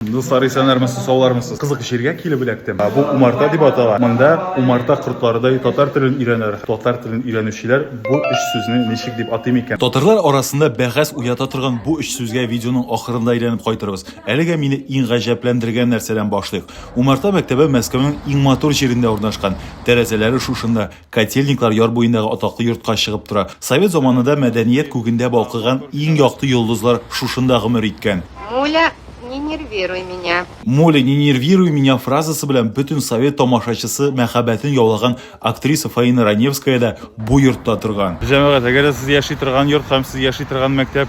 Дуслар, исәннәрмесез, саулармысыз? Кызык җиргә килеп эләктем. Бу умарта дип атала. Монда умарта кортларыдай татар телен өйрәнер. Татар телен өйрәнүчеләр бу өч сүзне ничек дип атый микән? Татарлар арасында бәхәс уята торган бу өч сүзгә видеоның ахырында әйләнеп кайтырбыз. Әлегә мине иң гаҗәпләндергән нәрсәдән башлыйк. Умарта мәктәбе Мәскәүнең иң матур җирендә урнашкан. Тәрәзәләре шушында. Котельниклар яр буендагы атаклы йортка чыгып тора. Совет заманында мәдәният күгендә балкыган иң якты йолдызлар шушында гомер иткән. Муля, не нервируй меня. Муля, не нервируй меня фразасы белән бөтен совет тамашачысы мәхәббәтен яулаган актриса Фаина Раневская да бу йортта торган. Җәмәгать, әгәр дә сез яши торган йорт һәм сез яши торган мәктәп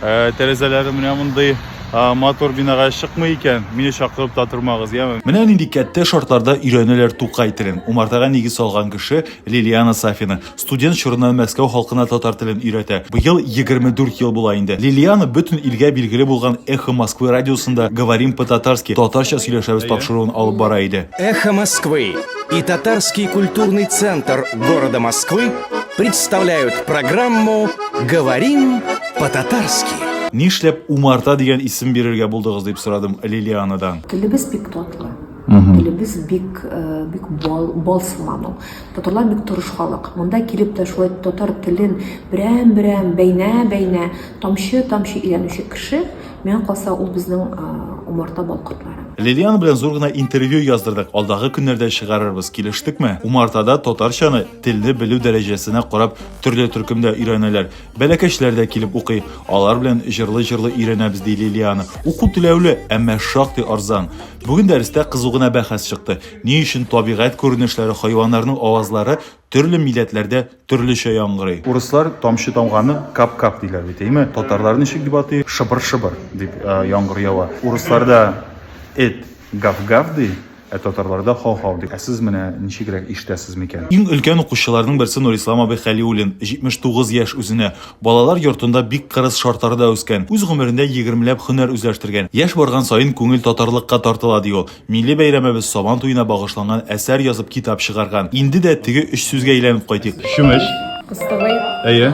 Ә, тәрәзәләре менә мондый матур бинага чыкмый икән, мине чакырып та тормагыз, яме. Менә нинди кәттә шартларда өйрәнәләр Тукай телен. Умартага нигез салган кеше Лилиана Сафина. Студент чорыннан Мәскәү халкына татар телен өйрәтә. Быел 24 ел була инде. Лилиана бөтен илгә билгеле булган Эхо Москвы радиосында Говорим по-татарски, татарча сөйләшәбез тапшыруын алып бара иде. Эхо Москвы и Татарский культурный центр города Москвы Представляют программу «Говорим по-татарски». Нишләп Умарта дигән исем бирергә булдыгыз дип сорадым Лилианадан. Телебез бик татлы. Телебез бик э, бик бал бал сыман ул. Татарлар бик тырыш халык. Монда килеп тә шулай татар телен берәм-берәм бәйнә-бәйнә тамчы-тамчы өйрәнүче кеше, миңа калса ул безнең э, умарта балкортлары. Лилиан белән зур гына интервью яздырдык. Алдагы көннәрдә чыгарырбыз, килештекме? Умартада татарчаны Телне белү дәрәҗәсенә карап төрле төркемдә өйрәнәләр. Бәләкәчләр дә килеп укый. Алар белән җырлый-җырлый өйрәнәбез, ди Лилиана. Уку түләүле, әмма шактый арзан. Бүген дәрестә кызу гына бәхәс чыкты. Ни өчен табигать күренешләре, хайваннарның авазлары төрле милләтләрдә төрлечә яңгырый? Урыслар тамчы тамганы кап-кап диләр бит, әйме? Татарлар ничек дип атый? Шыбыр-шыбыр дип яңгыр ява. Урысларда эт гав-гав ди. Ә татарларда хау-хау ди. Ә сез менә ничегрәк ишетәсез микән? Иң өлкән укучыларның берсе Нурислам абый Хәлиуллин, 79 яшь үзенә. Балалар йортында бик кырыс шартларда үскән. Үз гомерендә егермеләп хөнәр үзләштергән. Яшь барган саен күңел татарлыкка тартыла, ди ул. Милли бәйрәмебез Сабан туена багышланган әсәр язып китап чыгарган. Инде дә теге өч сүзгә әйләнеп кайтыйк. Чүмеч. Кыстыбый. Әйе.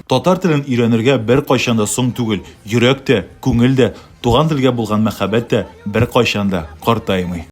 Татар телен өйрәнергә беркайчан да соң түгел, йөрәк тә, күңел дә, туган телгә булган мәхәббәт тә беркайчан да картаймый.